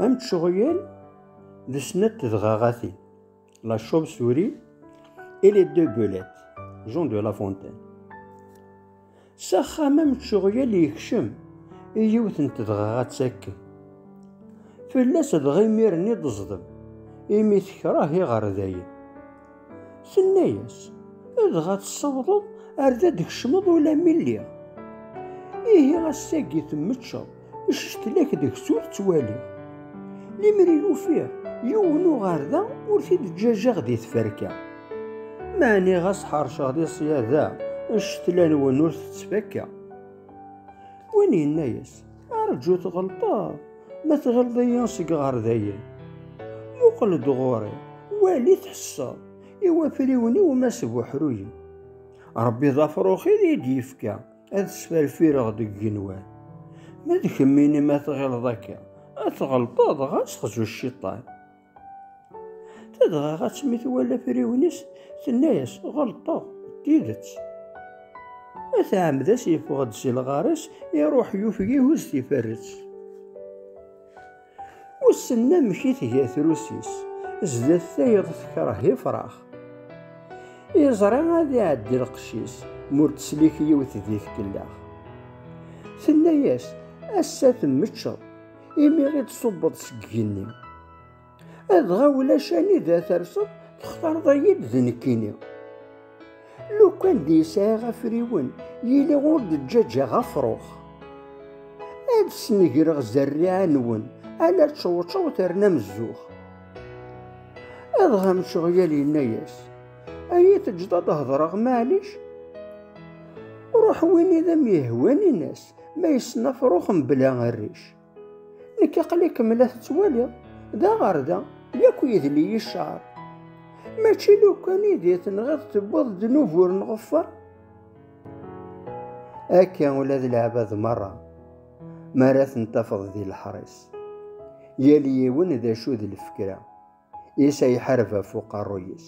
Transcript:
Am tceɣyal d snat tedɣaɣatin, la chauve-souris et les deux belettes, Jean de La Fontaine. S axxam am tceɣyal yekcem i yiwet n tedɣaɣat akken. Fell-as dɣa imir-nni d-ẓdem, imi tekṛeh iɣerdayen. Tenna-yas, dɣa tsawḍeḍ ar da d-kecmeḍ ula mi lliɣ. Ihi ass-agi temmeččeḍ, ccetlak deg-s ur ttwaliɣ. Limer i ufiɣ yiwen uɣerda ur t-id-ǧǧaǧaɣ di tferka. Meɛni ɣas ḥerceɣ di ṣṣyada, ccetla-nwen ur tettfakka. Win yenna-yas, Arǧu tɣelṭeḍ, ma tɣelḍ-iyi seg ɣer dayen. Muqel-d ɣur-i, wali tḥesseḍ, i wafriwen-iw ma sbuḥruyen. Rebbi d afruxi i d-yefka, ad sferfireɣ deg genwan. Ma d kemmini ma tɣileḍ akka, ad tɣelṭeḍ ɣas xzu cciṭan. Dɣa ɣas mi twala afriwen-is, tenna-yas, ɣelṭeɣ, d tidet. At Ɛemdas yeffeɣ-d si lɣar-is, iruḥ yufeg ihuz tiferret. Wissen amek i tga trusi-s, zdat tayeḍ tekreh ifrax. Yeẓra ad iɛeddi lqecc-is, ma ur teslik yiwet di tkellax. Tenna-yas, ass-a temmeččeḍ, imi i d-ṣubbeḍ seg igenni. Adɣa ulac anida terseḍ, textareḍ-iyi-d d nekkini. Lukan d yesɛiɣ afriwen, yili ur d-ǧǧaǧaɣ afrux. Ad snegreɣ zerriɛa-nwen, ala čewčew terna mezzux. Adɣa mceɣyal yenna-yas, ay it-ǧǧeḍ ad hedreɣ maɛlic, ruḥ win i d am-yehwan in-as. Ma yessen afrux mebla rric. Nekk aql-ikem la tettwaliḍ, d aɣerda, yak yedli-yi cceɛr. Mačči lukan i di tenɣiḍ tewwiḍ ddnub ur nɣeffer? Akka ula d leɛbad merra, mi ara ten-tafeḍ di leḥris. Yal yiwen d acu d lfekra, is ay ḥareb ɣef uqerruy-is.